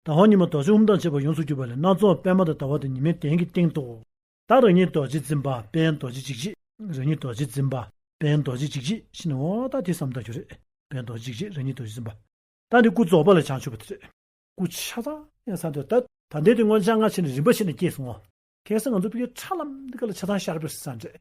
དང་བ་ཉི་མ་རྡོ་རྗེ་དབུ་མདངས་ཕྱེད་པ་ཡོངས་སུ་གྱུར་པ་ལས་སྣ་ཚོགས་པད་མ་དང་ཟླ་བ་དང་ཉི་མའི་གདན་གྱི་སྟེང་དུ། བདག་རང་ཉིད་རྡོ་རྗེ་འཛིན་པ་དཔལ་རྡོ་རྗེ་འཇིགས་བྱེད་རང་ཉིད་རྡོ་རྗེ་འཛིན་པ་དཔལ་རྡོ་རྗེ་འཇིགས་བྱེད་ཤི་ནའོ་ད་དེ་བསམ་དག་གྱུར་རེད་དཔལ་རྡོ་རྗེ་འཇིགས་བྱེད་རང་ཉིད་རྡོ་རྗེ་འཛིན་པ་ད་འདི་སྐུ་རྫོགས་པ་ལ་བྱང་ཆུབ་པ་དེ་རེད། སྐུ་ཆ་ཚང་ཡང་བསམ་དག་ད་ད་འདི་དེ་སྔོན་ཆ་སྔ་ཕྱི་ནས་རིམ་པ་ཕྱེ་ནས་སྐྱེས་སོང་ངོ། གལ་སྲིད་ང་ཚོ་བོད་རྒྱའི་ཁྲག་ལམ་འདི་ག་ལ་ཆ་ཚང་ཤར་བས་བསམ་རེད།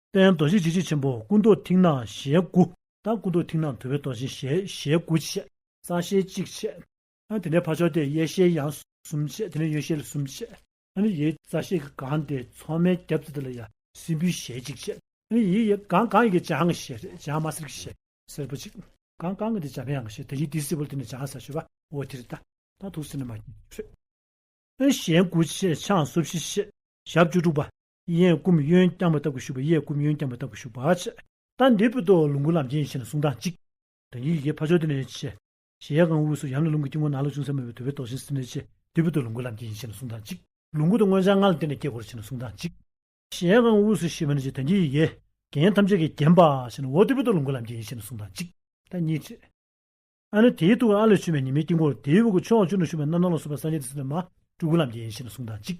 དཔལ་རྡོ་རྗེ་འཇིགས་བྱེད་ཆེན་པོ་སྐུ་མདོག་མཐིང་ནག་ཞལ་དགུ། དང་སྐུ་མདོག་མཐིང་ནག་དུ་བའི་རྡོ་རྗེ་ཞལ་དགུ་ཕྱེད། གསང་ཞལ་གཅིག་ཕྱེད། དེ་ནས་ཕ་ཕྱོགས་ཏེ་གཡས་ཞལ་ཡང་གསུམ་ཕྱེད་དེ་ནས་གཡོན་ཞལ་གསུམ་ཕྱེད། ཡི་རྩ་ཤེལ་གྱིས་གང་སྟེ་མཚོག་མའི་རྒྱབ་རྩེ་དེ་ལ་ཡང་སྲིན་བུའི་ཞལ་གཅིག་ཕྱེད། ཡི་གང་གང་གི་ལྗང་གི་ཞལ་རེ་ལྗང་དམར་སེར་གྱི་ཞལ་སེར་པོ་གཅིག། གང་གང་གི་དེ་ལྗང་གཡང་གི་ཞལ་དེ་ཡི་དེའི་སྲིད་པོ་ལ་དེ་ནས་ལྗང་གསལ་ཞུ་བ་འོ་དྷི་རི་ཏཱ། དང་ཐུགས་སྲིན་ནི་མ་ཀྱི་ཁྲུས། ཞལ་དགུ་ཕྱེད་ཕྱག་སོ་བཞི་ཕྱེད། ཞབས་བཅུ་དྲུག་པ། གཡས་བསྐུམ་གཡོན་བརྐྱང་བ་ལྟ་བུ་བཞུགས་པ་གཡས་བསྐུམ་གཡོན་བརྐྱང་བ་ལྟ་བུ་བཞུགས་པ། རྟ་འདེབས་པའི་ཏོག་ལོངས་སྐུ་ལམ་ཆེན་ཞེས་ལ་གསུང་གྲངས་གཅིག། དོན་གྱི་ཡི་གེ་ཕ་ཆོས་སྡེ་ལེན་ཆེ། གཞལ་ཡས་ཁང་དབུས་སུ་ཡང་ལས་རླུང་གི་དཀྱིལ་འཁོར་ནང་ལ་ཅུང་ཟད་མོད་པའི་དུ་བའི་ཏོག་ཆེན་སེམས་ལས་ཆེ། འདེབས་པའི་ཏོག་ལོངས་སྐུ་ལམ་ཆེན་ཞེས་ལ་གསུང་གྲངས་གཅིག། ལོངས་སྐུ་དང་མངོན་བྱང་ལྔ་ལ་བརྟེན་ནས་བཀའི་འཁོར་ཆེ་ལ་གསུང་གྲངས་གཅིག། གཞལ་ཡས་ཁང་དབུས་སུ་ཤེས་བྱ་ནི་དོན་གྱི་ཡི་གེ། རྒྱན་ཐམས་ཅད་ཀྱིས་བརྒྱན་པ་ཞེས་ལ་འོག་འདེབས་པའི་ཏོག་ལོངས་སྐུ་ལམ་ཆེན་ཞེས་ལ་གསུང་གྲངས་གཅིག། བདག་ཉིད་ཆེ། ཨ་ནི་དེའི་ཐུགས་ཀར་ཨ་ལས་བྱུང་བའི་ཉི་མའི་དཀྱིལ་འཁོར་དེའི་དབུ་གུ་ཕྱོགས་བཅུ་ན་བཞུགས་པའི་རྣམ་སྣང་ལ་སོགས་པ་སངས་རྒྱས་ཏེ་སེམས་དཔའ་མ་སྤྲུལ་སྐུ་ལམ་ཆེན་ཞེས་ལ་གསུང་གྲངས་གཅིག།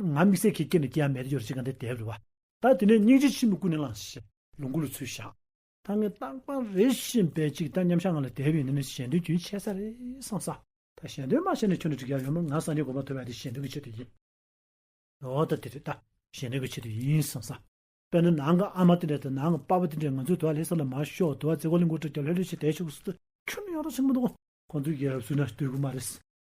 ང་དམིགས་བསལ་གྱིས་སྐྱེས་ནས་སྐྱེ་ཡ་མེད་དེ་ཡོད་ཅེས་གང་དེ་དེའི་རེ་བ། ད་དེ་ནས་སྙིང་རྗེ་ཆེན་པོས་ཀུན་ནས་བསླངས་ཞེས་ལོངས་སྐུ་ལ་ཚུལ་བཞག། ད་ངས་རྟག་པར་རེ་ཞིང་འབད་ཅིག་ད་མཉམ་བཞག་ང་ལ་དེ་བས་ནི་གཞན་དོན་རྒྱུན་ཆད་ས་རེད་བསམ་ས། ད་གཞན་དོན་མ་བྱས་ནས་ཁྱོད་ནི་འགྲིག་ཡ་ཡོད་མོད་ང་སངས་རྒྱས་དགོངས་པ་ཐོབ་ཡ་དེ་གཞན་དོན་གྱི་ཆེད་དུ་ཡིན། འོ་ད་དེ་རེད་ད་གཞན་དོན་གྱི་ཆེད་དུ་ཡིན་བསམ་ས། དཔེར་ན་ནང་གི་ཨ་མ་དེ་འདྲ་དང་ནང་གི་པ་པོ་དེ་འདྲས་ང་ཚོའི་དུ་བ་ལྷས་ས་ལ་མ་ཤོག་དུ་བ་བཙས་གོ་ལེ་མགོ་དཀྲིས་ཀྱང་ལྷོད་ལྷོད་བྱས་དེའི་ཕྱོགས་སུ་ཁྱོད་ནི་ཡོང་རོགས་ཆེན་པོ་འདུག་གོ། ཁོང་ཚོའི་རྒྱལ་རབས་སུ་ན་སྟོད་གུ་མ་རེད།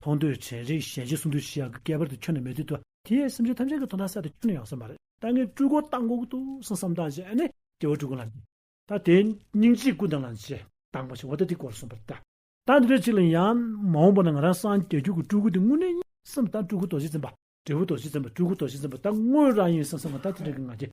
མཐོང་ཐོས་དྲན་རེག་ཞལ་མཇལ་གསུམ་དུས་བཞི་ཡང་ཁྱད་པར་དུ་ཁྱོད་ནི་མེད་ཚུལ་དུ། དེ་ཡི་སེམས་ཅན་ཐམས་ཅད་ཀྱི་དོ་ན་གསལ་དུ་ཁྱོད་ནི་ཡང་སེམས་མ་རེད། ད་ངས་སྤྲུལ་སྐུ་བཏང་གོང་དུ་སོང་བསམ་དང་བཅས་ནས་སྐྱེ་བོ་སྤྲུལ་སྐུ་ལ། ད་དེ་སྙིང་རྗེའི་སྐུ་དང་ལ་བཅས་བཏང་པ་ཞིག་འོ་ད་དེ་གོ་ལ་སོང་པར་ལྟ། ད་འདི་འདྲ་ཅིག་ལ་ཡང་མ་འོངས་པ་ན་ང་རང་སངས་རྒྱས་རྒྱུད་ཀྱི་སྤྲུལ་སྐུ་དེ་དངོས་གནས་ཡིན་སེམས་དང་སྤྲུལ་སྐུ་རྡོ་རྗེ་འཛིན་པ། འབྲས་བུ་རྡོ་རྗེ་འཛིན་པ་སྤྲུལ་སྐུ་རྡོ་རྗེ་འཛིན་པ་ད་དངོས་རང་ཡིན་སེམས་སེམས་མ་ད་དེ་འདྲ་གི་ང་རྒྱལ་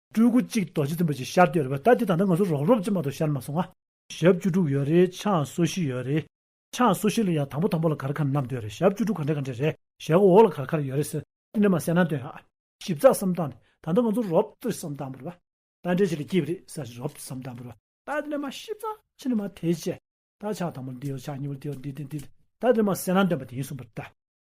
སྤྲུལ་སྐུ་གཅིག་རྡོ་རྗེ་འཛིན་པ་གཅིག་ཤར་ཏེ་ཡོད་རེད་པ་ད་དེ་ད་ལྟ་ང་ཚོ་རོགས་རོབ་ཅེས་མ་གཏོགས་ཤར་མ་སོང་ང། ཞབས་བཅུ་དྲུག་ཡོད་རེད་ཕྱག་སོ་བཞི་ཡོད་རེད། ཕྱག་སོ་བཞི་ལ་ཡང་དང་པོ་དང་པོ་ལ་གར་ཁ་ནམ་སྟོན་རེད་ཞབས་བཅུ་དྲུག་ག་འདྲ་ག་འདྲ་རེད་ཞལ་སྒོ་འོག་ལ་གར་ཁར་ཡོད་རེད་ཟེར་ནས་མ་གསལ་ན་སྟོན་ཨ། ཞིབ་ཚགས་སམ་བཏང་ནས་ད་ལྟ་ང་ཚོ་རོབ་ཏུ་སམ་བཏང་པར་བ། ད་འདྲའི་ཆེད་ལས་སྐྱིད་པ་རེད་ཟེར་རོབ་སམ་བཏང་པར་བ། ད་དེ་ནས་མ་ཞིབ་ཚགས་ཕྱི་ནས་མ་དེ་བྱས། ད་ཕྱག་དང་པོ་འདི་ཡོད་ཕྱག་གཉིས་པོ་འདི་ཡོད་འདི་དེ་འདི་དེ། ད་དེ་ནས་མ་གསལ་ན་སྟོན་པ་དེ་ཡིན་གསུངས་པར་བལྟ།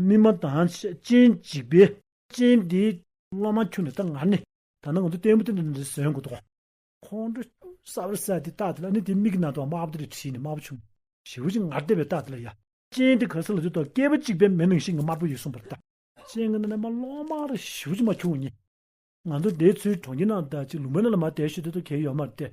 སྨིན་མ་དང་སྤྱན་གཅིག་པའི། སྤྱན་འདི་སློབ་མ་ཁྱོད་ནི་ད་ང་ནི། ད་ནི་ང་ཚོ་བསྟན་པ་འདི་འདི་ཟོན་དགོས་དོ། ཁོང་ཁྲོ་གསར་བར་གསལ་ཏེ་རྟགས་དེ་ལ་ནི་དེ་མིག་གི་ནང་དུའང་དམར་པོ་དེ་ལས་བྲིས་ནས་དམར་པོ་བྱུང། ཞི་བ་ཅི་ངར་བལྟས་པའི་རྟགས་དེ་ལ་ཡ། སྤྱན་དེ་ག་ས་ལ་འདུག་དང་སྐྱེས་པ་གཅིག་པའི་མེ་ནང་ཤིང་གི་དམར་པོ་ཡོད་གསུངས་པར་བལྟ། སྤྱན་གྱི་ནང་ན་མ་ལོག་མ་ར་ཞི་བ་ཅི་མ་བྱུང་ངེས། ང་ཚོ་དེའི་ཚུལ་གྲོང་ཁྱེར་ནང་དང་ཅིག་ལུང་པའི་ནང་ལ་མ་བལྟས་ཤོད་དེ་དོ་གལ་ཡོད་མ་བལྟས།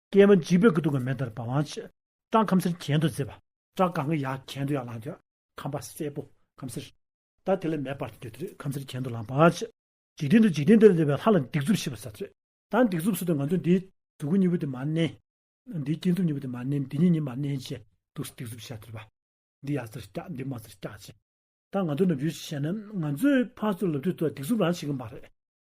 སྐྱེས་མ་འཇིགས་པའི་སྐུ་དུང་གི་མེ་ལྟར་འབར་བ། བཀྲག་ཁམ་སེར་གྱེན་དུ་བརྫེས་པ། བཀྲག་གང་གི་ཡ་གྱེན་དུ་ཡར་ལངས་ཀྱང། ཁམ་པ་སེར་པོ་ཁམ་སེར། ད་དེ་ལས་མེ་སྤར་ཏེ་འདུས་ཏེ་ཁམ་སེར་གྱེན་དུ་ལངས་པ། འཇིག་རྟེན་དུ་འཇིག་རྟེན་དེར་འདུས་པའི་ལྷ་ལ་སྡིགས་མཛུབ་ཤི་བ་ཟ་ཚོད། ད་སྡིགས་མཛུབ་སུ་དེ་ང་ཚོས་འདིའི། གཟུགས་སྐུ་གཉིས་པོ་དེ་མ་མནན། འདིའི་སྐྱེས་མཛུབ་གཉིས་པོ་དེ་མ་མནན་འདི་གཉིས་གཉིས་མ་མནན་ཅེས་སྡུག་སྡིགས་མཛུབ་ཤ་ཐུལ་བ། འདི་ཡར་ཟེར་སྐྱག་འདི་མར་ཟེར་སྐྱག་ཅེས། ད་ང་ཚོ་ནུབ་ཡུལ་གྱི་ཤེས་ན་ང་ཚོའི་ཕར་ཚུར་ལབ་དུས་ད་སྡིགས་མཛུབ་རང་བྱེད་ཀྱི་མ་རེད།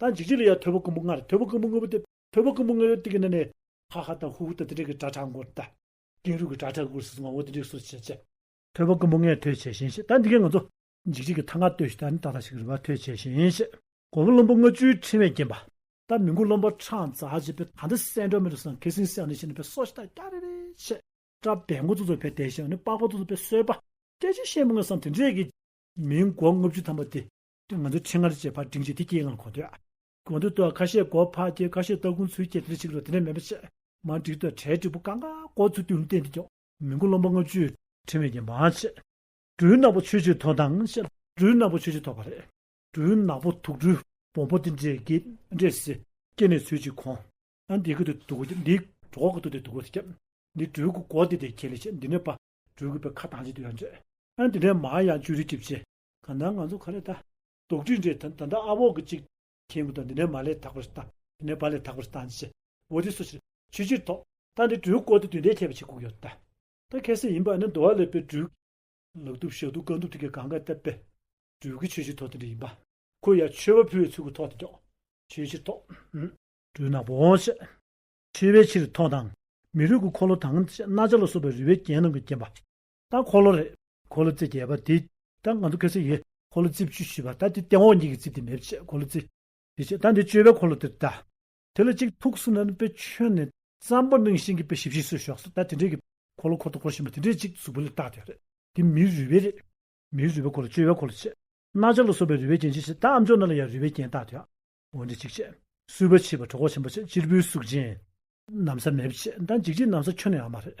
ད་འཇིགས་བྱེད་ལ་ཡང་ཐོད་པ་རྐུན་པོ་ལྔར་ཐོད་པ་རྐུན་པོ་དངོས་པོ་སྟེ་ཐོད་པ་རྐུན་པོ་ལྔའི་སྟེང་གི་ནི་ནི། ཧ་ཧ་དང་ཧུ་ཧུ་དང་དེ་འདྲའི་གི་སྒྲ་གྲགས་འགོར་ཏེ། ཀེང་རུས་ཀྱི་སྒྲ་གྲགས་འགོར་སིད་སོགས་ངག་དབང་དེ་འདྲའི་སོགས་བྱས། ཐོད་པ་རྐུན་པོ་ལྔའི་ཐོད་བྱས་ཤིང་ཞེས་ད་འདི་གའི་ང་ཚོ། འཇིགས་བྱེད་ཀྱི་ཐ་ང་ལྟོས་ཤིག་ད་ནི་ད་ལྟ་ཞིག་རུས་པ་ཐོད་བྱས་ཤིང་ཞེས། གོ་བོ་བློན་པོ་ལྔ་བཅུའི་ཕྲེང་བས་བརྒྱན་པ། ད་མི་མགོ་རློན་པོ་ཁྲག་འཛག་བྱེད་པའི་ད་འདི་སྲས་འགྲོ་མི་རུ་སང་ཁེ་སིང་སེང་ནི་ཞེས་ནི་བས་སོགས་ཤིག་ད་སྐྱ་རེ་རེ་ཞེས། སྐྲ་བད་མགོ་ཙོག་ཙོག་བས་དལ་ཞིང་ནི་པགས་པ་ཙོག་ཙོག་བས་གསོལ་པ། སྐད་ཅིག་ཤེས་མི་མངོན་སང་དེ་འདྲའི་གི། མིའི་མགོ་ལྔ་བཅུ་ཐམ་པ་དེ། ང་ཚོ་ཆེད་མངགས་རེད་ཅེས་ཕར་འགྲིག་འཇིག་སྟེ་ཀྱེ་ལང་གོང་དུ། གོང་དུ་ཏོ་ཁ་ཤས་སྒོ་ཕག་སྐྱེས་ཁ་ཤས་ཏོ་ཀུན་ཚུལ་སྐྱེས་དེ་ཅིག་རོ་དེ་ནས་མེད་པ་ཆེས་མ་འགྲིག་ཏོ་གྲལ་འགྲིག་པོ་ཀ་འགའ་ཀོ་ཚུལ་ཏུ་བསྟན་འདི་ཀྱང། མི་མགོ་རློམ་པ་ལྔ་བཅུའི་ཕྲེང་བས་ཀྱང་མ་ཆད། སྦྲུལ་ནག་པོ་ཆོས་སྤྱོད་ཐོག་མདངས་ཞེས་སྦྲུལ་ནག་པོ་ཆོས་སྤྱོད་ཐོག་པ་རེད། སྦྲུལ་ནག་པོ་དུག་སྦྲུལ་བོང་བུ་དེ་འདྲས་ཀྱིས་འདྲས་སེ། སྐྱེས་ནས་ཚུལ་ཅིག་གོང། ཨ་འདི་གི་དུ་དུག་གོ་སྟེ་འདི་གྲོགས་ཀྱི་དུག་སྟེ་དུག་གོ་སྟེ་ཁྱབ། འདི་སྦྲུལ་གྱི་གོ་སྟེ་དེ་ཁྱེད་ལས་ཆད་འདི་ནས་པ། སྦྲུལ་གྱི་པའི་ཁ་གདངས་ཅིག་དེ་ཡང་འདྲས། ཨ་འདི་འདྲས་མ་ཡང་བཅུ་རིག་གྱིས་བཅད། གང་ལྟར་ང་ཚོ་ག་རེ་བལྟ། དོགས་དྲི་འདྲེ་ད་ད་ཨ་བོག་གི་ཅིག། ཁྱེད་ཀྱི་དོན་འདི་ནས་མ་ལས་དག་པར་བལྟ། འདི་ནས་བ་ལས་དག་པར་བལྟ་ནི་ཅི། འོ་དེ་སུ་ཕྱིར། ཆོས་ཕྱིར་དོགས། ད་འདི་སྦྲུལ་བཀོལ་ཏེ་དུས་འདས་ཁྱད་པར་ཕྱེད་ཁུག་ཡོད་ད། ད་གལ་སྲིད་ཡིན་པ་ནི་འདོ་བ་ལས་པའི་སྦྲུལ། ལག་གདུབ་ཞག་གདུབ་རྐང་གདུབ་དེ་གའི་གང་ག་བལྟ། པའི་སྦྲུལ་གྱི་ཆོས་ཕྱིར་དོགས་དེ་འདྲ་ཡིན་པ། ཁོ་ཡར་མཆོད་པ་ཕུལ་བའི་ཚུལ་གྱིས་ཐོགས་ཏེ་འཇོག། ཆོས་ཕྱིར་དོགས། སྦྲུལ་ནག་པོ་འོང་ཤེས། མཆོད་པའི་ཕྱིར་ཐོགས་དང། མི་རུས་ཀྱི་འཁོར་ལོ་དང། སྣ་ཆ་ལ་སོགས་པའི་རུས་པའི་རྒྱན་རྣམས་ཀྱིས་བརྒྱན་པ། ད་འཁོར་ལོ་རེད། འཁོར་ལོ་རྩིབས་བརྒྱད་པ་དེ། ད་ང་ཚོ་ཁེར་སེམས་ཡོད། འཁོར་ལོ་རྩིབས་བཅུ་བཞི་པ་ད་དེ་སྟེང་འོག་གཉིས་ཀྱི་རྩིབས་དེ་མེད་བྱས་འཁོར་ལོ་རྩིབས་དེ་བྱས་ད་འདི་བཅོ་བའི་འཁོར་ལོ་དེར་ད། དེ་ལ་གཅིག་ཐུགས་སུ་ནན་པའི་ཆོས་ནི། ཙམ་པོ་གནང་ཤིང་གི་དཔེ་ཞིབ་བཞིན་སུས་ཞོགས་སུ་ད་དེ་འདྲའི་གི། འཁོར་ལོ་འཁོར་དང་འཁོར་བཞིན་པ་དེ་འདྲའི་གཅིག་གཟུགས་པོ་ལས་བཏགས་དེ་རེད། དེ་མིའི་རུས་པའི་རེད། མིའི་རུས་པའི་འཁོར་ལོ་བཅོ་བའི་འཁོར་ལོ་བྱས། རྣ་ཆ་ལ་སོགས་པའི་རུས་པའི་རྒྱན་བྱས་ཤིང་ད་ཨ་མཆོག་རྣ་ལ་ཡང་རུས་པའི་རྒྱན་བཏགས་དེ། འོ་འདི་གཅིག་བྱས། གསུས་པ་བྱས་པ་གྲོགས་ཆེན་པོ་བྱས་གཅེར་བུའི་གཟུགས་ཅན། ནམ་ས་མེད་བྱས་ད་འཇིགས་བྱེད་ནམ་ས་ཁྱོད་ནི་ཨ་མ་རེད།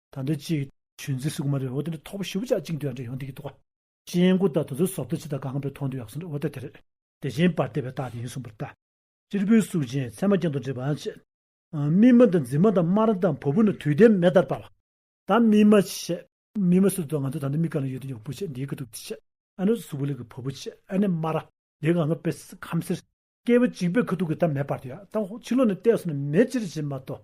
ད་འདི་ཅི། ཆོས་འཛིན་སུ་གུ་མ་རེད་འོ་དེ་འདྲ་ཐོག་པ་ཞུ་བུ་ཅག་ཅིག་འདུག་ཡག་འདྲ་ཡོང་སྡིག་གི་འདུག་བ། སྤྱན་དགུ་དང་དུ་ཚོད་ཟོབ་ཏུ་ཕྱི་དང་གང་པའི་ཐོག་འདུག་ཡག་སོང་འདྲ་འོ་ད་དེ་རེད། དེ་བཞིན་པར་བལྟས་པའི་རྟགས་དེ་ཡིན་གསུངས་པར་བལྟ། སྤྱིར་བོད་གཟུགས་ཅན་ཚད་མ་ཅན་དུ་འདྲེས་པའང་བྱེད། སྨིན་མ་དང་འཛིན་མ་དང་དམར་དང་བོ་བུ་ནི་དུས་དེབ་མེ་ལྟར་འབར་བ། ད་སྨིན་མ་བྱེད། སྨིན་མ་སུ་དང་ང་ཚོ་ད་འདི་མི་ག་ལ་ཡོད་དེ་ཡོང་བུ་བྱེད་འདི་གི་འདུག་དེ་བྱེད། ཨ་ནུ་སུ་བུ་ལེགས་ཀྱི་བོ་བུ་བྱེད་ཨ་ནི་དམར་ར། འདི་གང་གི་པེས་ཁམས་སེར། སྐྱེས་བུ་གཅིག་པའི་ཁུ་ཐུག་གི་ད་མེ་སྤར་དུ་ཡག་ད་ཧོ་ཕྱི་ལོག་ནས་བལྟས་སོང་ན་མེ་ཅི་རེད་བྱེད་མ་གཏོགས།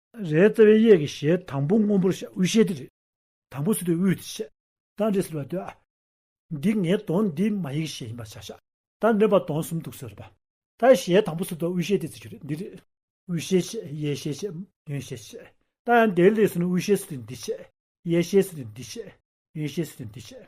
རའི་རྩ་བའི་གཡས་ཀྱི་ཞལ་དང་པོ་སྔོན་པོར་བཤད་དབུས་ཞལ་འདི་རེད། དང་པོ་ཟེར་དུས་དབུས་དེ་བཤད། རྟ་འདྲེ་ཟེར་བ་དུས་ཨ། འདི་ངའི་གདོན་འདི་མ་ཡིག་ཞལ་ཡིན་པར་བྱ། ཞག་རྟ་འདྲེན་པ་གདོན་གསུམ་འདུག་ཟེར་བ། རྟའི་ཞལ་དང་པོ་ཟེར་དུས་དབུས་ཞལ་དེ་བརྩི་རྒྱུ་རེད་འདི་རེད། དབུས་ཞལ་བཤད་གཡས་ཞལ་བཤད་གཡོན་ཞལ་བཤད། རྟ་ཡང་འདེད་ལེགས་ཟེར་ནས་དབུས་ཞལ་ཟེར་དུས་འདི་བཤད། གཡས་ཞལ་ཟེར་དུས་འདི་བཤད། གཡོན་ཞལ་ཟེར་དུས་འདི་བཤད།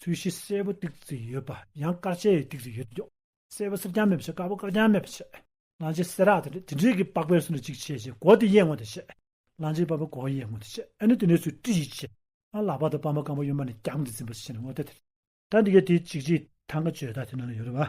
ཚུལ་བཞི་སེར་པོ་ཏིག་ཙིག་ཡོད་པ་ཡང་དཀར་ཆའི་ཡི་ཏིག་ཙིག་ཡོད་དོ། སེར་པོ་སེར་རྐྱང་མེད་པར་བྱེད་དཀར་པོ་དཀར་རྐྱང་མེད་པར་བྱེད། གླང་ཆེན་སེ་རག་དེ་འདྲས་དེ་འདྲས་ཀྱི་པགས་པའི་སུ་ནི་གཅིག་བྱེད་ཅེས་གོ་དེ་གཡས་ངོ་དེ་བྱེད། གླང་ཆེན་པགས་པའི་གོ་གཡས་ངོ་དེ་བྱེད་ཨེ་ནི་དེ་འདྲས་སུ་ཏྲི་ཞིག་བྱེད། ཨ་ལག་པ་དང་པདྨ་སྐམ་པོ་གཡོན་པ་ནས་བརྐྱང་གིས་འཛིན་པར་བྱེད་ནི་ངོ་དེ་དེ། ད་འདི་གའི་དེའི་འཇིག་བྱེད་དང་གཅོད་ད་དེ་ན་ཡོད་རེད་བ།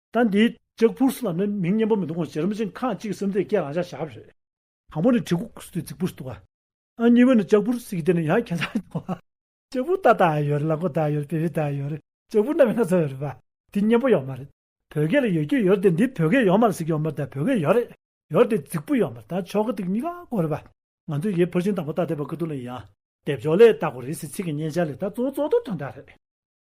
ད་འདི། ལྕགས་ཕུར་སུ་ལ་ནི་མིང་སྙན་པོ་མི་འདུག་གོང་བྱེད་རིམ་བཞིན་ཁག་གཅིག་གི་སེམས་རྩེ་སྐྱེད་རང་བཞག་བྱ་བ་རེད། དང་པོ་ནི་གྲི་གུག་སུ་དེ་རྫིག་པོ་སུ་འདུག་ཨ། གཉིས་པ་ནི་ལྕགས་ཕུར་སུ་ཡི་དེ་ནི་ཡང་ཁྱད་མཚར་འདུག་ཨ། ལྕགས་ཕུར་རྟ་དང་ཡོད་རེད་ལག་མགོ་དང་ཡོད་རེད་བེ་བེ་དང་ཡོད་རེད་ལྕགས་ཕུར་རྣམ་པའི་སྣ་ཚོགས་ཡོད་རེད་པ། དེ་སྙན་པོ་ཡོད་མ་རེད། བོད་སྐད་ལ་ཡོད་རྒྱུ་ཡོད་རེད་དེ་འདི་བོད་སྐད་ཡོད་མ་རེད་ཟེར་གྱི་ཡོད་མ་རེད་ད་བོད་སྐད་ཡོད་རེད། ཡོད་རེད་དེ་རྫིག་པོ་ཡོད་མ་རེད་ད་ཆོ་ག་དེ་གཉིས་ཀ་གོ་རེད་པ། ང་ཚོས་ཡེ་ཕུར་ཆིང་དང་པོ་རྟ་དེ་བ་ཀི་ཏུ་ལ་ཡིན་ཨ། དེབ་ཅོག་ལས་ལྟ་གོ་རེད་ཟེར་ཚིག་གི་སྙན་ཆ་ལས་ད་གཙོ་བོ་གཙོ་བདོག་དོན་དག་རེད།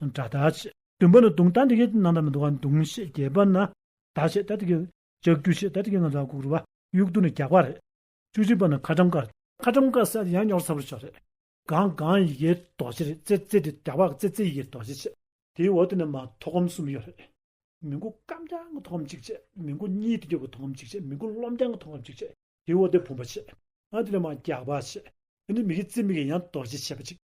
སྒྲ་རྟག་ཆད། བདུན་པ་ནི་དུང་རྟ་འདི་གའི་ནང་ལྟར་མི་འདུག་གམ་དུང་ཞེས་རྒྱས་པ་ན། རྟག་ཆད་སྟེ་འདི་གའི། ལྕགས་ཀྱུ་ཞེས་སྟེ་འདི་གའི་ནང་ལྟར་བཀུག་རུལ་བ། དབྱུག་ཏོ་ནི་རྒྱགས་པ་རེད། བཅུ་གཅིག་པ་ནི་ཁ་གྲམ་ཀ། ཁ་གྲམ་ཀ་སྲད་དེ་ཡང་སྙོག་ཚ་པོར་ཆགས་རེད། གངས་གངས་ཡི་གེའི་དོགས་གཞི་རེད་ཙེ་ཙེ་དེ་རྒྱགས་པ་ཙེ་ཙེ་ཡི་གེའི་དོགས་གཞི་བྱེད། དེའི་འོག་ཏུ་ནི་མ་ཐོག་སྒོམ་གསུམ་ཡོད་རེད། མི་མགོ་སྐམ་རྐྱང་གི་ཐོག་སྒོམ་གཅིག་བྱེད། མི་མགོ་གཉིས་ཏེ་རྒྱོབ་ཀྱི་ཐོག་སྒོམ་གཅིག་བྱེད་མི་མགོ་རློམ་རྐྱང་གི་ཐོག་སྒོམ་གཅིག་བྱེད། དེའི་འོག་ཏུ་བུམ་པ་བྱེད། ཨ་དེ་ནི་མ་རྒྱགས་པ་བྱེད། དེ་ནི་མིག་གི་རྩེ་མིག་གི་ཡང་དོགས་གཞི་བྱེད་པ་གཅིག།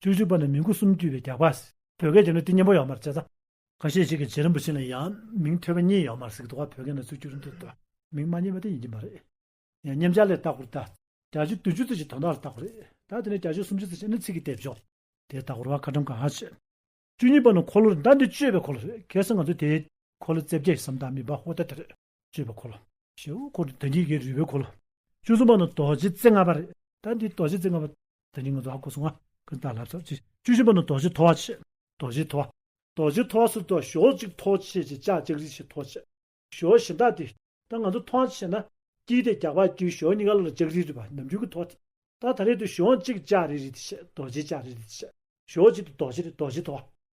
བཅུ་བཞི་པ་ནི་མིང་གོ་གསུམ་བརྒྱུད་པའི་རྒྱགས་པ། བོད་སྐད་བརྒྱུད་ན་ཏི་སྙན་པོ་ཡོག་མར་བྱེད་ས། ཁ་ཤས་ཤིག་གིས་རྗེ་རིན་པོ་ཆེ་ནི་ཡང་མིང་ཐོས་པ་གཉིས་ཡོག་མར་གཟིགས་འདུག་ཨ་བོད་སྐད་ན་ཚུལ་བཅུ་རིན་དུ་འདོད། མིང་མ་རྙེད་པ་དེ་ཡིན་གྱི་མ་རེད། ཡང་སྙན་བྱ་ལས་ལྟ་སྐོར་ལྟ། བརྒྱ་བྱིན་བདུན་བཅུ་ཚིག་གཅིག་དོན་དག་ལ་ལྟ་སྐོར་རེད། ད་དེ་ནས་བརྒྱ་བྱིན་སུམ་བཅུ་ཚིག་གཅིག་ནི་ཚིག་གི་སྡེབ་སྦྱོར། དེ་ལྟ་སྐོར་བ་བཀའ་དྲིན་གང་ཧ་ཆེ། བཅུ་གཉིས་པ་ནི་འཁོར་ལོ་རེད་ཟླ་འདི་བཅོས་པའི་འཁོར་ལོ་རེད་གལ་སྲིད་ང་ཚོས་དེའི། འཁོར་ལོ་རྩེ་བརྒྱད་ཀྱི་ས་མཐའ་མི་སྦ་ཧོ་ཐལ་ཐལ་རེད། ཅེས་པའི་འཁོར་ལོ། ཞེས་དབུ་འཁོར་དོན་གྱིས་བརྒྱད་འདུས་པའི་འཁོར་ལོ། བཅུ་གསུམ་པ་ནི་རྡོ་རྗེ་རྩེ་ལྔ་པ་རེད། ད་འདིར་རྡོ་རྗེ་རྩེ་ལྔ་པ། དོན་གྱིས་ངོ་མཚར་བ་སྐུ་གསུང་བ། ཀུན་བཏགས་ལྷ་ཚོགས་ཀྱིས། བཅུ་བཞི་པ་ནི་རྡོ་རྗེ་ཐོ་བ་ཆེ། རྡོ་རྗེ་ཐོ་བ། རྡོ་རྗེ་ཐོ་བ་སུ་ཐོ་ཞོག་ཅིག་ཐོ་ཆེ་ཅེས་ཅག་ཅིག་རིགས་ཤིག་ཐོ་ཆེ། ཞོག་གཞི་བདག་སྟེ། ད་ང་ཚོ་ཐོ་ཆེ་ན། སྐྱིད་དེ་རྒྱགས་པ་སྐྱུའི་ཞོག་གཉིས་ཀ་ལ་ལ་ཅིག་རིགས་རིགས་པ་ནམ་རྒྱུན་གྱི་ཐོ་སྟེ། ད་ད་རེས་དུ་ཞོག་ཅིག་ཅག་རིགས་རིགས་ཏེ་ཆེ་རྡོ་རྗེ་ཅག་རིགས་རིགས་ཏེ་ཆེ། ཞོག་ཅིག་ཏུ་རྡོ་རྗེ་རེད་རྡོ་རྗེ་ཐོ་བ།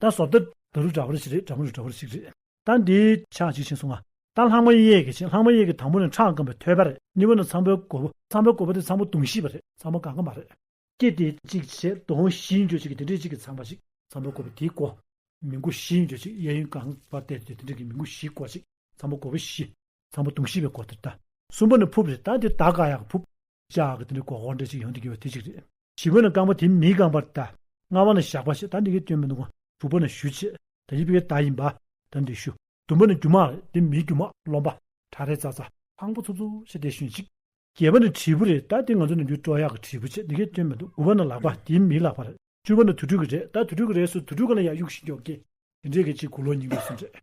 ད་སོ་ད། ད་རུ་འདྲ་བར་ཞིག་རེད་དྲ་མོ་རུ་འདྲ་བར་ཞིག་རེད། ད་འདི། ཕྱག་ཅིག་བྱིན་སོང་ང། ད་ལྷག་མ་གཡས་ཀྱི་བྱིན་ལྷག་མ་གཡས་ཀྱི་དང་པོ་ནི་ཁྲག་སྐམ་པའི་ཐོད་པ་རེད་གཉིས་པ་ནི་ཚངས་པའི་མགོ་བོ་ཚངས་པའི་མགོ་བོ་དེ་ཚངས་པོ་དུང་བཞི་པ་རེད་ཚངས་པོ་གང་གི་མ་རེད། སྐྱེས་ཏེ་གཅིག་བྱས་དུང་བཞིའི་འགྱོད་ཅིག་གིས་དེ་འདྲའི་གཅིག་གི་ཚངས་པ་ཅིག་ཚངས་པའི་མགོ་བོ་དེའི་གོ། མི་མགོ་བཞིའི་འགྱོད་ཅིག་གཡས་གཡོན་གང་བར་བལྟས་ཏེ་དེ་འདྲའི་གཅིག་གི་མི་མགོ་བཞིའི་གོ་ཅིག་ཚངས་པའི་མགོ་བོ་བཞི། ཚངས་པ་དུང་ཞེས་པའི་གོ་དོན་ལྟ། གསུམ་པ་ནི་ཕུབ་རེད་ད་འདིར་དག་ག་ཡག་གི་ཕུབ། ལྕགས་ཀྱི་དེ་འདྲའི་གོ་ཧོར་འདྲ་ཞིག་ཡོང་དུ་གྱུར་བ་དེ་ཅིག་རེད། བཞི་པ་ནི་རྐང་པ་དེ་མི་རྐང་པར་ལྟ། ལྔ་བ་ནི་ཞགས་པ་ཞེས་ད་འདི་གའི་སྐྱོན་མི་འདུག་གམ་དྲུག་པ་ནི་ཞུ་ཆེད་ད་ཡིབ་པའི་ད་ཡིན་པ་ད་འདི་ཞུ། བདུན་པ་ནི་རྒྱུ་མ་རེད་དེ་མི་རྒྱུ་མ་རློམ་པ་གྲ་རེད་ཙ་ཙ། ལྷང་པོ་ཚུགས་ཚུགས་ཞེས་དེ་ཞུན་ཅིག། བརྒྱད་པ་ནི་དྲིལ་བུ་རེད་ད་འདི་ང་ཚོ་ནུབ་རྒྱུད་སྤྲོ་ཡག་གི་དྲིལ་བུ་ཆེད་འདི་གའི་སྐྱོན་མི་འདུག་དགུ་བ་ནི་ལག་པ་དེ་མིའི་ལག་པ་རེད་བཅུ་བ་ནི་དུར་ཁྲོད་ཀྱི་རེད་ད་དུར་ཁྲོད་ཀྱི་རེད་སུ་དུར་ཁྲོད་ག་ལ་ཡག་གཡུག་བཞིན་འགྱོག་གི། དེ་འདྲའི་གི་གཅིག་དགུ་ལོ་ཉིས་འགའི་སུ་འདྲེས།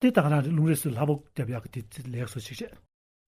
དེ་དག་རང་རེ་རླུང་རེས་སུ་ལྷ་བུག་རྒྱབ་ཡག་གི་དེ་ལེགས་སོ་ཞིག་རེད།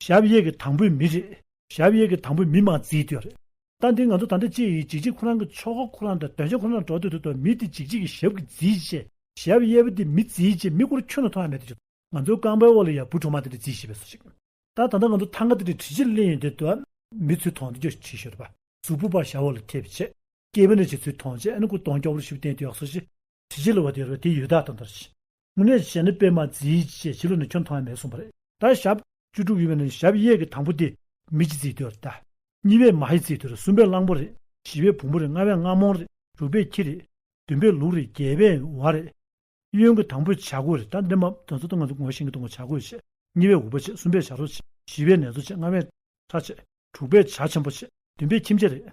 ཞབས་གཡས་ཀྱི་དང་པོའི་མི་རེད། ཞབས་གཡས་ཀྱི་དང་པོའི་མི་མ་བརྫིས་དུས་རེད། ལྟ་འདི་ང་ཚོ་ད་ལྟ་ཅི་ཡིས་འཇིགས་འཇིགས་ཁོ་རང་གི་ཆོ་ག་ཁོ་རང་དང་དོན་བྱ་ཁོ་རང་འགྲོ་འདོད་དུ་འདུག་མི་དེ་འཇིགས་འཇིགས་ཀྱི་ཞབས་ཀྱི་བརྫིས་ཆེ། ཞབས་གཡས་པོ་དེ་མི་བརྫིས་ཆེ་མི་སྐོར་ཁྱོན་ན་མཐོང་ཡ་མེད་དུ་ཆུག་ང་ཚོའི་རྐང་པའི་འོག་ལ་ཡ་བུ་གྲོག་མ་དེ་འདྲ་བརྫིས་ཤེས་པས་སོ་ཞིག། ད་ད་ལྟ་ང་ཚོ་ཐང་ག་དེ་འདྲའི་གྲི་ཆེར་གླན་ཡོད་འདོད་དུ། མི་ཚུལ་ཐོང་དུ་རྒྱོ་ཆེ་ཤོས་རེད་པ། གཟུགས་པོ་པར་ཞབས་འོག་ལ་ཐེབས་ཆེ། སྐྱེས་བུ་འདྲ་བྱེད་ཚུལ་ཐོང་ཆེ་ཨ་ནི་སྐུ་གདོང་སྐྱོ་བོར་བཞུགས་བསྟན་དུ་ཡག་སོ་ཞིག། གྲི་ཆེ་ལ་བ་དེ་རེད་པ་དེ་ཡོད་དག་དང་འདྲ་ཞིག། དངོས་གནས་བྱས་ན་པད་མ་རྩིའི་ཅེས་བྱི་ལོ་ནས་ཁྱོན་མཐོང་ཡང་མེད་གསུངས་པ་རེད། ད་ཞབས། བཅུ་དྲུག་ཡིན་པ་ནི་ཞབས་གཡས་ཀྱི་དང་པོ་སྟེ། མི་ཅི་རྩིའི་དུས་རེད། གཉིས་པས་མ་ཧེ་རྩིའི་དུས་རེད་གསུམ་པས་གླང་པོ་རེད་བཞི་པས་བོང་བུ་རེད་ལྔ་པས་རྔ་མོང་རེད་དྲུག་པས་ཁྱི་རེད་བདུན་པས་ལུག་རེད་བརྒྱད་པས་བ་རེད། གཡོན་གྱི་དང་པོས་བྱ་རྒོད་རེད་ད་འདི་མ་དོན་ཚོ་སྟོང་ང་ཚོ་ངོ་ཤེས་གི་འདུག་ང་བྱ་རྒོད་བྱེད་གཉིས་པས་འུག་པ་བྱེད་གསུམ་པས་བྱ་རོ་བྱེད་བཞི་པས་ནེ་ཙོ་བྱེད་ལྔ་པས་ཁྲ་བྱེད་དྲུག་པས་བྱ་ཆེན་པོ་བྱེད་བདུན་པས་ཁྱིམ་བྱེད་རེད།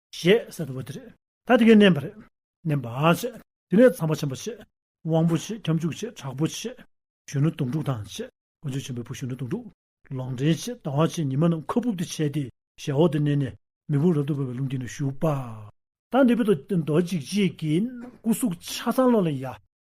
ཞེས་ཟེར་བ་དེ་རེད། ད་དེ་གས་མནན་པ་རེད། མནན་པ་ཆེ། དེ་ནས་ཚངས་པ་ཆེན་པོ་ཆེ། དབང་པོ་ཆེ་ཁྱབ་འཇུག་ཆེ་དྲག་པོ་ཆེ། གཞོན་ནུ་དོང་སྤྲུགས་དང་ཆེ། དཀོན་མཆོག་ཆེན་པོའི་བུ་གཞོན་ནུ་དོང་སྤྲུགས། ལོག་འདྲེན་ཆེ་ཟླ་བ་ཆེ་ཉི་མ་རྣམས་ཁ་བུབ་ཏུ་ཆས་ཏེ་ཞལ་འོག་ཏུ་མནན་ནས་མེ་ཕུང་རབ་ཏུ་འབར་བའི་རླུང་དེ་ནས་ཞུགས་པ། ད་འདི་བུ་དང་རྡོ་རྗེ་གཅིག་གིས་སྐུ་གཟུགས་ཆ་ཚང་བློ་ལ་ཡལ།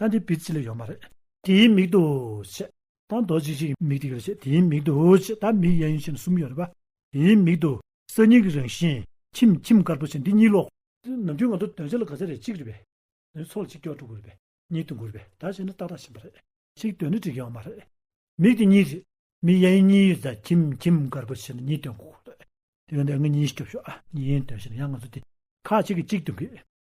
ད་འདི་པིར་ཅི་ལ་ཡོད་མ་རེད། དེའི་མིག་ཏུ། ཆེ། ད་མདོ་གཅིག་ཅིག་མིག་དེ་ག་རེད། དེའི་མིག་ཏུ། ཆེ། ད་མིག་གཡས་གཡོན་ཕྱི་ནང་གསུམ་ཡོད་རེད་པ། དེའི་མིག་ཏུ། གསར་རྙིང་གི་རང་བཞིན། ཁྱིམ་ཁྱིམ་དཀར་པོ་ཆེ་འདི་གཉིས་ཀློག། ནམ་རྒྱུན་ང་ཚོ་དོན་བྱ་ལ་དགའ་ཚད་རེད་གཅིག་རེད་པས། ནི་ཚོགས་ལ་གཅིག་སྐྱོར་དྲུག་དགོས་རེད་པས། གཉིས་དུ་འགུར་བས་ད་བྱས་ནི་ཏག་ཏག་ཕྱིན་པ་རེད། གཅིག་དོན་ནི་འགྲིག་ཡོད་མ་རེད། མིག་དེ་གཉིས་རེད། མིག་གཡས་གཡོན་གཉིས་ཡོད་ད་ཁྱིམ་ཁྱིམ་དཀར་པོ་ཆེ་ནི་གཉིས་དོན་གོ་དགོས་རེད། དེ་ག་འདི་ང་གཉིས་སྐྱོབ་ཤོག་ཨ། གཉིས་དོན་བྱས་ན་ཡང་ང་ཚོ་དེ། ཁག་གཅིག་གིས་གཅིག་དུ་འགུལ།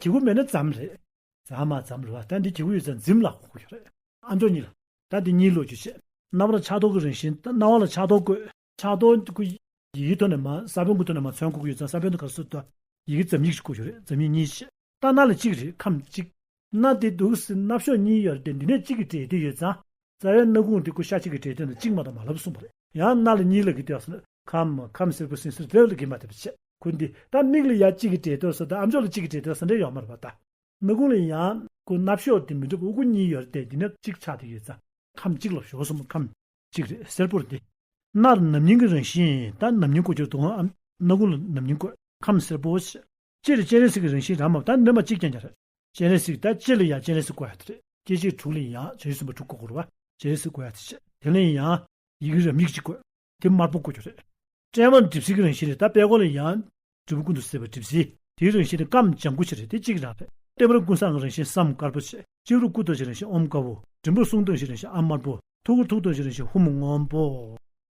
གྱི་གུ་མེད་ན་ཛམ་རེད། ཛམ་མ་ཛམ་རེད་བ་ད་འདི་གྱི་གུ་ཡོད་ཚད་འཛིམ་ལ་ཁོག་གི་རེད། ཨ་མདོ་གཉིས་ལ། ད་འདི་གཉིས་ལོ་རྒྱུས་བཤད། རྣ་བ་ལ་ཆགས་ཐོག་གི་རིང་བཞིན་ད་རྣ་བ་ལ་ཆགས་ཐོག་བཀོད། ཆགས་ཐོག་གི་གུ། ཡི་གེ་ཐོག་ནས་མ་ས་བོན་གུ་ཐོག་ནས་མ་ཚོན་གུ་གུ་ཡོད་ཚད་ས་བོན་དུ་ག་སུ་དོ། ཡི་གེ་ཛམ་ཡིག་ཅིག་གུ་ཡོད་རེད་ཛམ་ཡིག་གཉིས་བཤད། ད་རྣ་ལ་གཅིག་རེད་ཁམས་གཅིག། རྣ་དེ་འདུག་སེ་རྣ་བཤོས་གཉིས་ཡོད་རེད་དེ་འདི་ནས་གཅིག་གི་དྲེད་དེ་ཡོད་ཛམ། རྩ་བའི་སྣ་ཁུང་དེ་ཀུ་ཤ་གཅིག་གི་གྲས་སྟོན་དང་གཅིག་མ་དང་མ་ལབ་གསུངས་པ་རེད། ཡང་སྣ་ལ་གཉིས་ལ་གི་ཏེ་བ། ཁམ། ཁམ་སེར་པོ་སིང་སེར་དེ་ལ་གི་མ་ཏེ་བ། ཁུ་འདི་ད་མིག་ལ་ཡ་གཅིག་གི་གྲས་སྟོན་ས་དང་ཨ་མཆོག་ལ་གཅིག་གི་གྲས་སྟོན་ས་འདྲེ་ཡོག་མ་རེད་པ་ད། སྣ་ཁུང་ལ་ཡང་ཀུ་སྣ་བཤོག་དེ་མི་འགྲུབ་དབུ་ཀུ་གཉིས་ཡོད་རེད་དེ་ནི་གཅིག་ཆག་ཏེ་ཡོད་རྩ། ཁམ་གཅིག་ལ་བཤོག་གསུམ་ཁམ། གཅིག་རེད་སེར་པོར་དེ། སྣ་ལ་ནམ་སྙིང་གི་རང་བཞིན་ད་ནམ་སྙིང་ཀུ་གཅིག་ལ་དུ་བ་ཨམ། སྣ་ཁུང་ལ་ནམ་སྙིང་ཀུ། ཁམ་སེར་པོ། སྤྱི་ལ་སྤྱན་རས་གཟིགས་ཀྱི་རང་བཞིན་རང་མ་བབས་ད་སྣོད་མ་གཅིག་ཀྱང་ཀྱང་རེད། སྤྱན་རས་གཟིགས་ད་སྤྱི་ལ་ཡང་སྤྱན་རས་གཟིགས་བཀོད་ཡ་ད་རེད། སྐྱེ་མཆེད་དྲུག་ལ་ཡང་བྱང་ཆུབ་སེམས་དཔའ་དྲུག་གོ་བསྐོར་བ་སྤྱན་རས་གཟིགས་བཀོད་ཡ་ད་བྱས། དེ་ལ་ཡང། ཡི་གེ་རབ་ཉིད་གཅིག་བཀོད། དེ་དམར་པོ་བཀོད་རྒྱུ་རེད། སྤྲེལ་བ་ནི་གྲིབ་བསིལ་གྱི་རང་བཞིན་རེད་ད་དཔལ་གོང་ལ་ཡང། དྲིལ་བུ་ཀུན་ཏུ་བསིལ་བ་གྲིབ་བསིལ། དེའི་རང་བཞིན་ནི་སྐམ་ལྗང་གུ་ཆེ་རེད་དེ་གཅིག་གི་རང་རེད། ལྟེ་བར་ཀུན་བཟང་གི་རང་བཞིན་བསམ་དཀར་པོ་ཆེ། སྤྱི་བོར་སྐུ་སྟོན་བཞིའི་རང་བཞིན་ཨོམ་དཀར་པོ། མགྲིན་པོར་གསུང་སྟོན་བཞིའི་རང་བཞིན་ཨ་དམར་པོ། ཐུགས་ཀར་ཐུགས་སྟོན་བཞིའི་རང་བཞིན་ཧཱུྃ་སྔོན་པོ།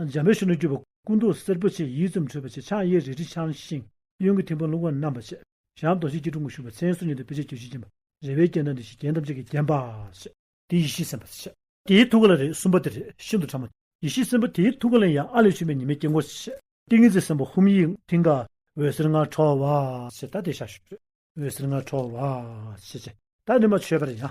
འཇམ་པའི་ཤུགས་ནི་སྐྱུར་པོ་སྐུ་མདོག་སེར་པོ་ཆེ་ཡིད་ཙམ་འཕྲོས་པ་ཆེ་ཕྱག་གཡས་རལ་གྲི་འཆང་ཞིང་གཡོན་གྱི་ཐིམ་པ་རླུང་བ་བསྣམས་པ་ཆེ་ཞབས་རྡོ་རྗེ་སྐྱིལ་ཀྲུང་གུང་བཞུགས་པ་མཚན་གསོལ་ཉི་ཟླ་སྤོས་ཆས་གྱོད་གཞི་བརྒྱན་པ་རེ་བའི་རྐྱེན་དང་འདི་ཞེས་རྒྱན་ཐམས་ཅད་ཀྱིས་བརྒྱན་པ། དེ་ཡེ་ཤེས་སེམས་དཔའ་ཆེ། དེའི་ཐུགས་ཀ་ལ་རེག་གསུམ་པ་དེ་རེག་ཤིན་ཏུ་ཕྲ་མོ། ཡེ་ཤེས་སེམས་དཔའ་དེའི་ཐུགས་ཀ་ལ་ཡང་ཨ་ལས་བྱུང་བའི་ཉི་མའི་དཀྱིལ་འཁོར་ཆེ། ཏིང་ངེ་འཛིན་སེམས་དཔའ་ཧཱུྃ་ཡིག་མཐིང་ག་འོད་ཟེར་ལྔ་འཕྲོ་བ། ཞེས་བཟླ་སྟེ་ཞག་ཞུ། འོད་ཟེར་ལྔ་འཕྲོ་བ། ཞེས་བྱ། བདག་ནི་མ་མཆོད་པར་ཡང།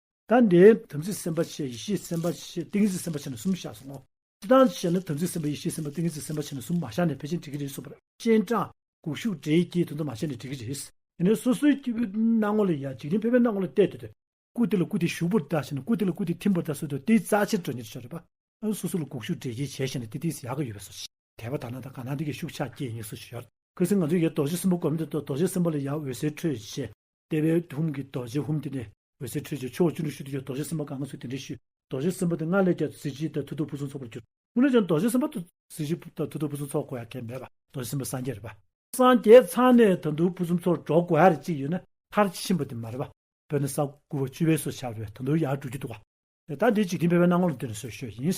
ད་འདི་དམ་ཚིག་སེམས་དཔའ་ཆེ་ཡེ་ཤེས་སེམས་དཔའ་ཆེ་ཏིང་ངེ་འཛིན་སེམས་དཔའ་ཆེ་ན་གསུམ་བཞག་སོང་ངོ། ཅི་སྟངས་ཀྱི་ཞེ་ན་དམ་ཚིག་སེམས་དཔའ་ཡེ་ཤེས་སེམས་དཔའ་ཏིང་ངེ་འཛིན་སེམས་དཔའ་ཆེ་ན་གསུམ་མ་བཞག་ནས་ཕལ་ཆེན་འགྲིག་གི་རེད་སོ། སྤྱན་དྲངས། དགུག་གཞུག་འདྲེ་ཡི་གེའི་དོན་དུ་མ་བྱས་ནས་འགྲིག་གི་རེད། དེ་ནས་སོ་སོའི་སྐྱེ་བོའི་སྣང་ངོ་ལ་ཡང་འཇིག་རྟེན་ཕལ་པའི་སྣང་ངོ་ལ་བལྟས་དེ་དུ། སྐུ་དེ་ལ་སྐུ་དེ་ཞུགས་པོར་བལྟ་ཞེ་ན་སྐུ་དེ་ལ་སྐུ་དེ་ཐིམ་པོར་བལྟ་སོ་དུ་སྟེ་རྩ་ཕྱིར་འགྲོ་ཉེར་ཆགས་རེད་པ། སོ་སོ་ལ་དགུག་གཞུག་འདྲེ་ཅི་བྱས་ཞེ་ན་དེ་དེ་ཡག་གི་ཡོད་པས་སོ། དད་པ་དག་ན་དང་གང་ན་དེ་གའི་ཤུགས་ཆགས་སྐྱེས་ངེས་སོ་ཞེས་བྱ་བ། ཁྱོད་སེམས་ང་ཚོ་ཡི་རྡོ་རྗེ་སྲིན་པོ་བསྒོམ་དེ་རྡོ་རྗེ་སྲིན་པོ་ལ་ཡང་འོད་ཟེར་འཕྲོས་ཞེས་ལྟེ་བའི་ཧཱུྃ་གི་རྡོ་རྗེ་ཧཱུྃ་དེ་ནས་འོད་ཟེར་འཕྲོས་བྱས་ཕྱོགས་བཅུ་དྲུག་ཅུ་དུ་ཡོད་རྡོ་རྗེ་སེམས་དཔའ་གང་གཱ་སོགས་དེ་འདྲའི་ཤུལ། རྡོ་རྗེ་སེམས་དཔའ་དེ་སྔར་ལས་ཀྱང་གཟི་བརྗིད་དང་མཐུ་སྟོབས་ཕུན་སུམ་ཚོགས་པར་གྱུར། སྔོན་ལས་ཀྱང་རྡོ་རྗེ་སེམས་དཔའ་དང། གཟི་བརྗིད་དང་མཐུ་སྟོབས་ཕུན་སུམ་ཚོགས་དགོས་ཡ་གལ་མེད་པ། རྡོ་རྗེ་སེམས་དཔའ་སངས་རྒྱས་རེད་པ། སངས་རྒྱས་ཚང་ནས་ད་མཐུ་ཕུན་སུམ་ཚོགས་འགྲོ་དགོས་ཡ་རེད་ཅིག་ཡོད་ན་མཐར་ཕྱིན་པ་དེ་མ་རེད་པ། དཔེར་ན་ས་དགུ་བ་བཅུ་བའི་སོ་བྱ་བས་ད་མཐུ་ཡར་འགྲོ་རྒྱུ་འདུག་བ། ད་འདི་འཇིག་རྟེན་ཕལ་བའི་སྣང་ངོར་འདིར་སོས་ཤོས་ཡིན།